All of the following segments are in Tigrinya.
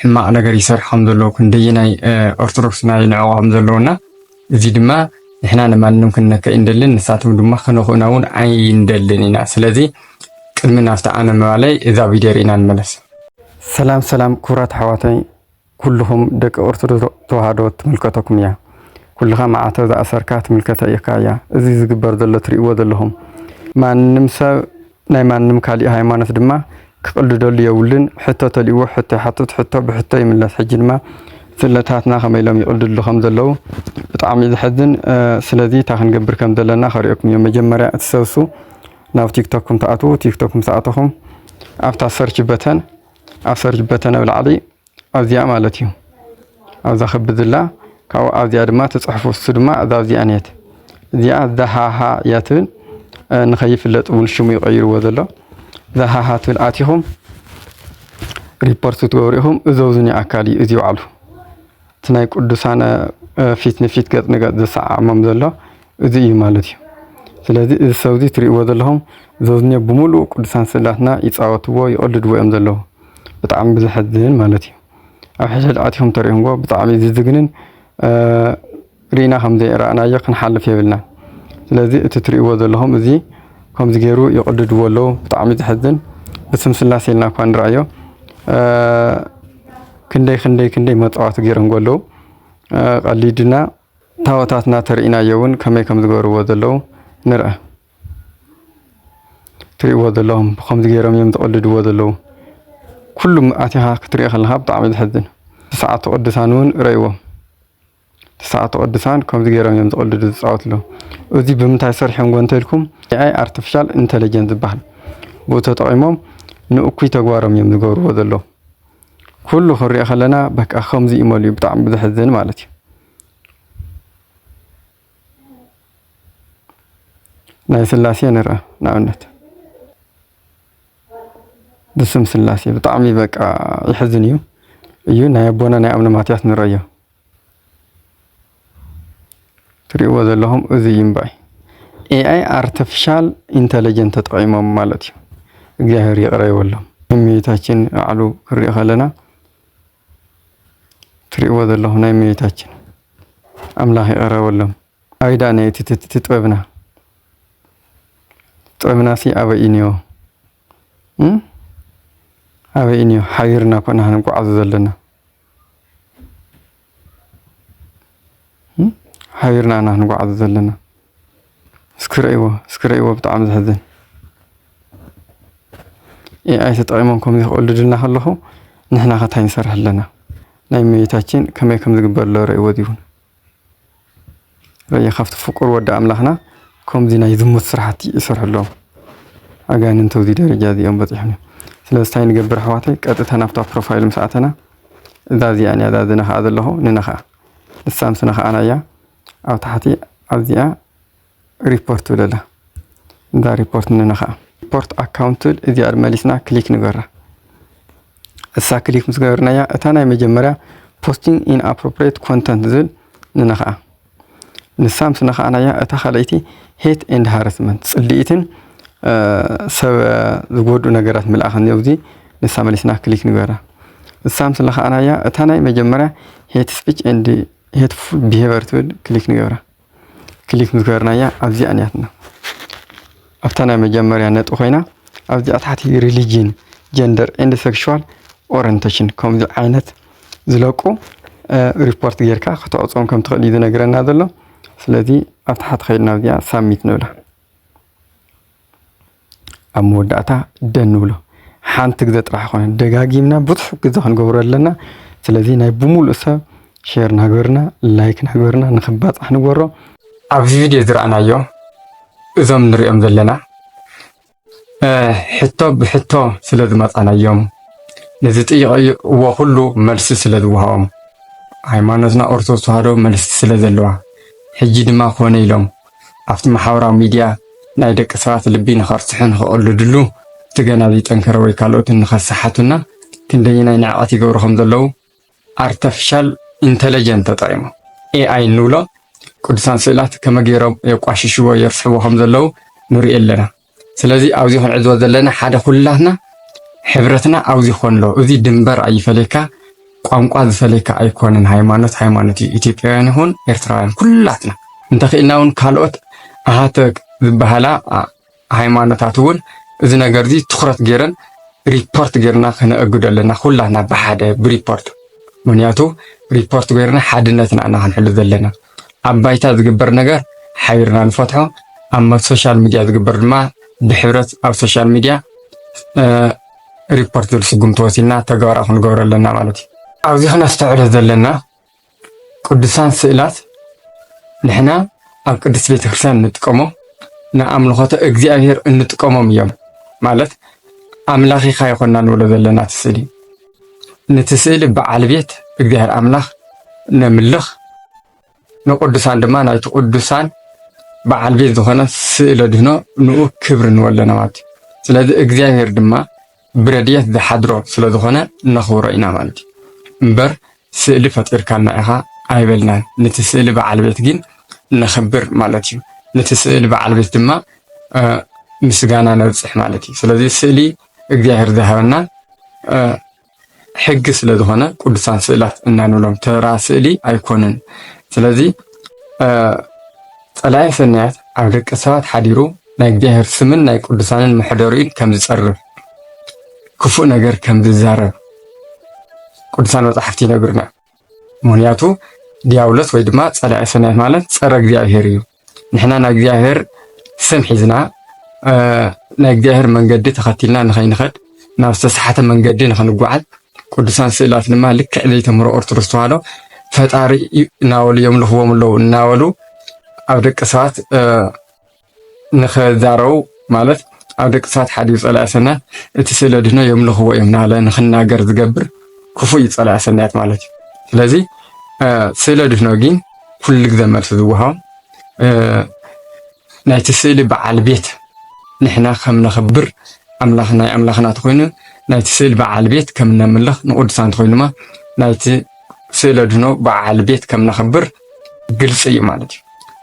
ሕማቅ ነገር ይሰርሕ ከም ዘለዎ ክንደየናይ ኦርቶዶክስ ናይ ንዕቆ ከም ዘለውና እዚ ድማ ንሕና ንማንም ክንነከ እንደልን ንሳቶም ድማ ከነኹእና እውን ኣይንደልን ኢና። ስለዚ ቅድሚ ናብቲ ኣነ ምባለይ እዛ ቪድዮ ርኢና ንመለስ። ሰላም ሰላም ክቡራት ኣሕዋተይ ኩልኹም ደቂ ኦርቶዶክስ ተዋህዶ ትምልከተኩም እያ። ኩልኻ ማዕተብ ዝኣሰርካ ትምልከተ እካ እያ። እዚ ዝግበር ዘሎ ትሪእዎ ዘለኹም ማንም ሰብ ናይ ማንም ካሊእ ሃይማኖት ድማ ክቅልደሉ የብሉን ሕቶ ተልእዎ ሕቶ ይሓትት ሕቶ ብሕቶ ይምለስ ሕጂ ድማ ስለታትና ከመይ ኢሎም ይቅልድሉ ከም ዘለዉ ብጣዕሚ እዩ ዘሕዝን ስለዚ እታ ክንገብር ከም ዘለና ከሪኦኩም እዮም መጀመርያ እቲ ሰብሱ ናብ ቲክቶክኩም ትኣትዉ ቲክቶክ ምስ ኣተኹም ኣብታ ሰርች በተን ኣብ ሰርች በተን ኣብ ላዕሊ ኣዚያ ማለት እዩ ኣብዛ ክብ ዝላ ካብኡ ኣዚያ ድማ ትጽሕፉ እሱ ድማ እዛ እዚኣ ኔት እዚኣ ዛሃሃ እያ ትብል ንኸይፍለጥ እውን ሽሙ ይቐይርዎ ዘሎ ዛሃሃ ትብል ኣቲኹም ሪፖርት ክትገብሩ ኢኹም እዘውዝኒ ኣካል እዩ እዚ ባዕሉ እቲ ናይ ቅዱሳነ ፊት ንፊት ገጽ ንገጽ ዘሰዓዕሞም ዘሎ እዚ እዩ ማለት እዩ ስለዚ እዚ ሰብዚ ትሪእዎ ዘለኹም ዘውዝኒ ብምሉእ ቅዱሳን ስእላትና ይፃወትዎ ይቕድድዎ እዮም ዘለዉ ብጣዕሚ ብዘሕዝን ማለት እዩ ኣብ ሕድሕድ ኣትኹም ተርእዩዎ ብጣዕሚ ዝዝግንን ርኢና ከምዘይራእናዮ ክንሓልፍ የብልናን ስለዚ እቲ ትርእይዎ ዘለኹም እዚ ከምዚ ገይሩ ይቕድድዎ ኣለዉ ብጣዕሚ ዝሕዝን ብስም ስላሴ ኢልና እኳ ንርኣዮ ክንደይ ክንደይ ክንደይ መፃዋት ገይሮም ኣለዉ ቀሊድና ታወታትና ተርእናዮ እውን ከመይ ከም ዝገበርዎ ዘለዉ ንርኣ ትሪእዎ ዘለኹም ብኸምዚ ገይሮም እዮም ዝቕልድዎ ዘለዉ ኩሉ ኣቲኻ ክትሪኦ ከለኻ ብጣዕሚ እዩ ዘሕዝን ትስዓቱ ቅዱሳን እውን ረእይዎ ትስዓቱ ቅዱሳን ከምዚ ገይሮም እዮም ዝቕልዱ ዝፃወቱ ኣለዉ እዚ ብምንታይ ሰሪሖምዎ እንተልኩም ኤኣይ ኣርቲፊሻል ኢንተለጀንስ ዝበሃል ብኡ ተጠቒሞም ንእኩይ ተግባሮም እዮም ዝገብርዎ ዘለዉ ኩሉ ክንሪኦ ከለና በቃ ከምዚ እዩ መሊኡ ብጣዕሚ ዘሕዝን ማለት እዩ ናይ ስላሴ ንርኣ ንኣብነት ብስም ስላሴ ብጣዕሚ በቃ ይሕዝን እዩ እዩ ናይ ኣቦና ናይ ኣብነ ማትያስ ንረዮ ትሪእዎ ዘለኹም እዚ እዩ እምበኣይ ኤኣይ ኣርቲፊሻል ኢንተለጀንት ተጠቂሞም ማለት እዩ። እግዚኣብሔር ይቅረ ይበሎም። እመቤታችን ኣዕሉ ክሪኦ ከለና ትሪእዎ ዘለኹም ናይ እመቤታችን ኣምላኽ ይቐረበሎም። ኣበይ ደኣ ነቲ ጥበብና ጥበብና ሲ ኣበይ እዩ እኒኦ? ኣበይ እዩ እኒኦ? ሓቢርና እኮ ኢና ክንጓዓዙ ዘለና ሓቢርና ኢና ክንጓዓዙ ዘለና። እስኪ ርእይዎ እስኪ ርእይዎ ብጣዕሚ ዘሕዝን ኤኣይ ተጠቒሞም ከምዚ ክቕልዱልና ከለኹ ንሕና ከ እንታይ ንሰርሕ ኣለና ናይ እመቤታችን ከመይ ከም ዝግበር ኣሎ ርእይዎ እዚውን ርእይ ካብቲ ፍቁር ወዲ ኣምላኽና ከምዚ ናይ ዝሙት ስራሕቲ ይሰርሑ ኣለዉ ኣጋንንቲ ኣብዚ ደረጃ እዚኦም በፂሖም እዮም ስለዚ እንታይ ንገብር ኣሕዋተይ ቀጥታ ናብታ ፕሮፋይል ምስ ኣተና እዛ እዚኣን እያ እዛ ዝነኽኣ ዘለኹ ንነኽኣ ንሳ ምስ ነኽኣና እያ ኣብ ታሕቲ ኣብዚኣ ሪፖርት ትብል ኣላ እዛ ሪፖርት ንነኻ ሪፖርት ኣካውንት ትብል እዚኣ መሊስና ክሊክ ንገራ እሳ ክሊክ ምስ ገበርናያ እታ ናይ መጀመርያ ፖስቲንግ ኢን ኣፕሮፕሬት ኮንተንት ዝብል ንነኽኣ ንሳ ምስ ነኽኣናያ እታ ካልኣይቲ ሄት ኤንድ ሃረስመንት ፅልኢትን ሰብ ዝጎድኡ ነገራት ምልኣኽ እኒኦ እዚ ንሳ መሊስና ክሊክ ንገራ እሳ ምስ ነኽኣናያ እታ ናይ መጀመርያ ሄት ስፒች ኤንድ ሄትፉል ቢሄቨር ትብል ክሊክ ንገብራ ክሊክ ምስ ገበርናያ ኣብዚኣ ንያትና ኣብታ ናይ መጀመርያ ነጥቢ ኮይና ኣብዚኣ ታሕቲ ሪሊጅን ጀንደር ኤንድ ሴክሹዋል ኦሪንቴሽን ከምዚ ዓይነት ዝለቁ ሪፖርት ጌርካ ከተዕፅዎም ከም ትኽእል እዩ ዝነግረና ዘሎ ስለዚ ኣብ ታሕቲ ከይድና ኣብዚኣ ሳብሚት ንብላ ኣብ መወዳእታ ደ ንብሎ ሓንቲ ግዘ ጥራሕ ኮነ ደጋጊምና ብዙሕ ግዘ ክንገብሮ ኣለና ስለዚ ናይ ብምሉእ ሰብ ሼር ናገርና ላይክ ናገርና ንክባፃሕ ንገሮ ኣብዚ ቪድዮ ዝረኣናዮ እዞም ንሪኦም ዘለና ሕቶ ብሕቶ ስለ ዝመፃናዮም ነዚ ጥይቕዎ ኩሉ መልሲ ስለ ዝወሃቦም ሃይማኖትና ኦርቶዶክስ ተዋህዶ መልሲ ስለ ዘለዋ ሕጂ ድማ ኮነ ኢሎም ኣብቲ ማሕበራዊ ሚድያ ናይ ደቂ ሰባት ልቢ ንኸርስሑ ንኸቐልድሉ እቲ ገና ዘይጠንከረ ወይ ካልኦት ንኸሰሓቱና ክንደየናይ ንዕቐት ይገብሩ ከም ዘለዉ ኣርተፍሻል ኢንተለጀንት ተጠቒሞም ኤኣይ እንብሎ ቅዱሳን ስእላት ከመይ ገይሮም የቋሽሽዎ የርስሕዎ ከም ዘለዉ ንርኢ ኣለና። ስለዚ ኣብዚ ክንዕዝቦ ዘለና ሓደ ኩላትና ሕብረትና ኣብዚ ክኾን ኣለዎ። እዚ ድንበር ኣይፈለካ፣ ቋንቋ ዝፈለካ ኣይኮነን። ሃይማኖት ሃይማኖት እዩ። ኢትዮጵያውያን ይኹን ኤርትራውያን ኩላትና እንተኽኢልና እውን ካልኦት ኣሃተ ዝበሃላ ሃይማኖታት እውን እዚ ነገር እዚ ትኩረት ገይረን ሪፖርት ገይርና ክነእግዶ ኣለና ኩላትና ብሓደ ብሪፖርት ምክንያቱ ሪፖርት ገይርና ሓድነትና ኢና ክንሕሉ ዘለና ኣብ ባይታ ዝግበር ነገር ሓቢርና ንፈትሖ፣ ኣብ ሶሻል ሚድያ ዝግበር ድማ ብሕብረት ኣብ ሶሻል ሚድያ ሪፖርት ዝብል ስጉምቲ ወሲድና ተግባራዊ ክንገብሮ ኣለና ማለት እዩ። ኣብዚ ክነስተውዕሎ ዘለና ቅዱሳን ስእላት ንሕና ኣብ ቅድስት ቤተክርስትያን እንጥቀሞ ንኣምልኾተ እግዚኣብሔር እንጥቀሞም እዮም ማለት ኣምላኺኻ ይኾና ንብሎ ዘለና እቲ ስእሊ ነቲ ስእሊ በዓል ቤት እግዚኣብሔር ኣምላኽ ነምልኽ፣ ንቅዱሳን ድማ ናይቲ ቅዱሳን በዓል ቤት ዝኾነ ስእለ ድህኖ ንኡ ክብሪ ንወለና ማለት እዩ። ስለዚ እግዚኣብሔር ድማ ብረድኤት ዝሓድሮ ስለ ዝኾነ ነኽብሮ ኢና ማለት እዩ እምበር ስእሊ ፈጢርካልና ኢኻ ኣይበልናን። ነቲ ስእሊ በዓል ቤት ግን ነኽብር ማለት እዩ። ነቲ ስእሊ በዓል ቤት ድማ ምስጋና ነብፅሕ ማለት እዩ። ስለዚ ስእሊ እግዚኣብሔር ዝሃበናን ሕጊ ስለ ዝኾነ ቅዱሳን ስእላት እና ንብሎም ተራ ስእሊ ኣይኮኑን። ስለዚ ጸላኢ ሰናያት ኣብ ደቂ ሰባት ሓዲሩ ናይ እግዚኣብሔር ስምን ናይ ቅዱሳንን መሕደሪኡን ከም ዝጸርፍ ክፉእ ነገር ከም ዝዛረብ ቅዱሳን መጻሕፍቲ ይነግርና። ምክንያቱ ዲያብሎስ ወይ ድማ ጸላኢ ሰናያት ማለት ጸረ እግዚኣብሔር እዩ። ንሕና ናይ እግዚኣብሔር ስም ሒዝና ናይ እግዚኣብሔር መንገዲ ተኸቲልና ንኸይንኸድ ናብ ዝተሰሓተ መንገዲ ንኸንጓዓዝ ቅዱሳን ስእላት ድማ ልክዕ ዘይተምህሮ ኦርቶዶክስ ተዋህዶ ፈጣሪ እናበሉ የምልኽዎም ኣለዉ እናበሉ ኣብ ደቂ ሰባት ንኸዛረቡ ማለት ኣብ ደቂ ሰባት ሓዲሩ ፀላኢ ሰናያት እቲ ስእሊ ኣድህኖ የምልኽዎ እዮም ናለ ንክናገር ዝገብር ክፉእ እዩ ፀላኢ ሰናያት ማለት እዩ። ስለዚ ስእሊ ኣድህኖ ግን ኩሉ ግዘ መልሲ ዝወሃቦም ናይቲ ስእሊ በዓል ቤት ንሕና ከም ነኽብር ኣምላኽ ናይ ኣምላኽና እንተኾይኑ ናይቲ ስእሊ በዓል ቤት ከም ነምልኽ ንቅዱሳን እንተኾይኑ ድማ ናይቲ ስእሊ ኣድህኖ በዓል ቤት ከም ነኽብር ግልፂ እዩ ማለት እዩ።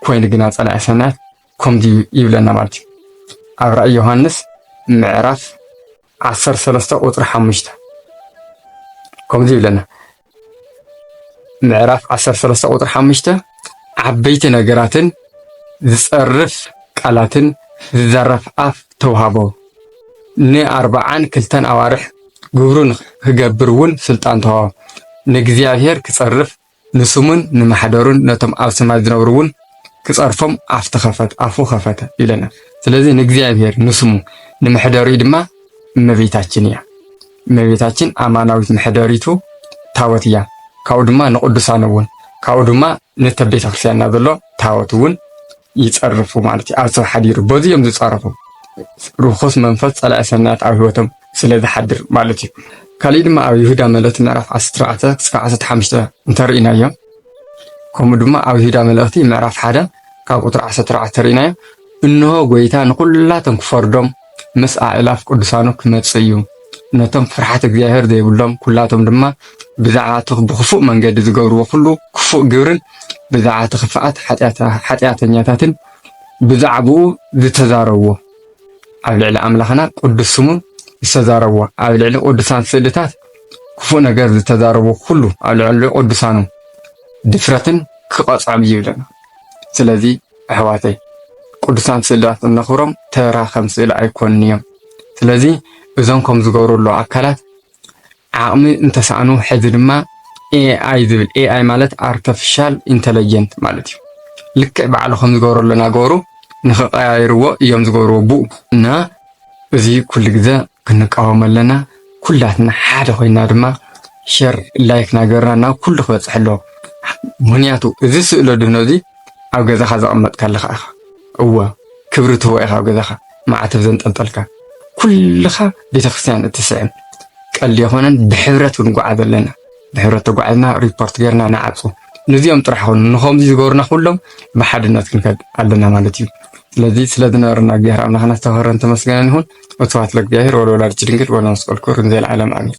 ኮይኑ ግና ፀላኢ ሰናያት ከምዚ ይብለና ማለት እዩ ኣብ ራእይ ዮሃንስ ምዕራፍ ዓሰርተ ሰለስተ ቁፅሪ ሓሙሽተ ከምዚ ይብለና ምዕራፍ ዓሰርተ ሰለስተ ቁፅሪ ሓሙሽተ ዓበይቲ ነገራትን ዝፀርፍ ቃላትን ዝዘረፍ ኣፍ ተውሃቦ ንኣርባዓን ክልተን ኣዋርሕ ግብሩ ንክገብር እውን ስልጣን ተዋህቦ ንእግዚኣብሔር ክፀርፍ ንስሙን ንማሕደሩን ነቶም ኣብ ሰማይ ዝነብሩ እውን ክጸርፎም ኣፍ ተኸፈተ ኣፉ ከፈተ ይብለና። ስለዚ ንእግዚኣብሔር ንስሙ ንመሕደሪኡ ድማ እመቤታችን እያ። እመቤታችን ኣማናዊት መሕደሪቱ ታወት እያ። ካብኡ ድማ ንቅዱሳን እውን ካብኡ ድማ ነተ ቤተ ክርስቲያንና ዘሎ ታወት እውን ይጸርፉ ማለት እዩ። ኣብ ሰብ ሓዲሩ በዚ እዮም ዝጻረፉ። ርኹስ መንፈስ ጸላኢ ሰናያት ኣብ ህይወቶም ስለ ዝሓድር ማለት እዩ። ካልእ ድማ ኣብ ይሁዳ መልእኽቲ ምዕራፍ 14 ክሳብ 15 እንተርኢናዮ ከምኡ ድማ ኣብ ይሁዳ መልእኽቲ ምዕራፍ 1 ካብ ቁጥሪ 14 ተርኢናዮ እንሆ ጎይታ ንኹላቶም ክፈርዶም ምስ ኣእላፍ ቅዱሳኑ ክመጽእ እዩ። ነቶም ፍርሓት እግዚኣብሔር ዘይብሎም ኩላቶም ድማ ብዛዕባ እቲ ብኽፉእ መንገዲ ዝገብርዎ ኩሉ ክፉእ ግብርን ብዛዕባ እቲ ክፍኣት ሓጢኣተኛታትን ብዛዕባኡ ዝተዛረብዎ ኣብ ልዕሊ ኣምላኽና ቅዱስ ስሙን ዝተዛረብዎ ኣብ ልዕሊ ቅዱሳን ስእልታት ክፉእ ነገር ዝተዛረብዎ ኩሉ ኣብ ልዕሊ ቅዱሳኑ ድፍረትን ክቐጽዖም እዩ ይብለና። ስለዚ ኣሕዋተይ ቅዱሳን ስእላት እነኽብሮም ተራ ከም ስእሊ ኣይኮኑን እዮም። ስለዚ እዞም ከም ዝገብሩ ኣለዉ ኣካላት ዓቕሚ እንተሰኣኑ ሕዚ ድማ ኤኣይ ዝብል ኤኣይ ማለት ኣርተፊሻል ኢንተለጀንት ማለት እዩ። ልክዕ ባዕሉ ከም ዝገብሩ ኣሎ እናገበሩ ንክቀያይርዎ እዮም ዝገብርዎ ብኡ እና እዚ ኩሉ ግዘ ክንቃወሞ ኣለና። ኩላትና ሓደ ኮይና ድማ ሸር ላይክ ናገርና ናብ ኩሉ ክበፅሕ ኣለዎ። ምክንያቱ እዚ ስእለ ድህኖ እዚ ኣብ ገዛካ ዘቀመጥካ ኣለካ ኢካ እወ ክብሪ ትህቦ ኢካ ኣብ ገዛካ ማዕተብ ዘንጠልጠልካ ኩልካ ቤተክርስትያን እትስዕም ቀልዲ ኣይኮነን ብሕብረት ክንጉዓዝ ኣለና። ብሕብረት ተጓዒዝና ሪፖርት ገርና ንዓጹ። ንዚኦም ጥራሕ ኮኑ ንከምዚ ዝገሩና ኩሎም ብሓድነት ክንከድ ኣለና ማለት እዩ። ስለዚ ስለ ዝነበረና እግዚኣብሔር ኣምላክና ዝተኸበረን ተመስገነን ይኹን። ወስብሐት ለእግዚኣብሔር ወለወላዲቱ ድንግል ወለመስቀሉ ክቡር እንዘ ለዓለም ኣሜን።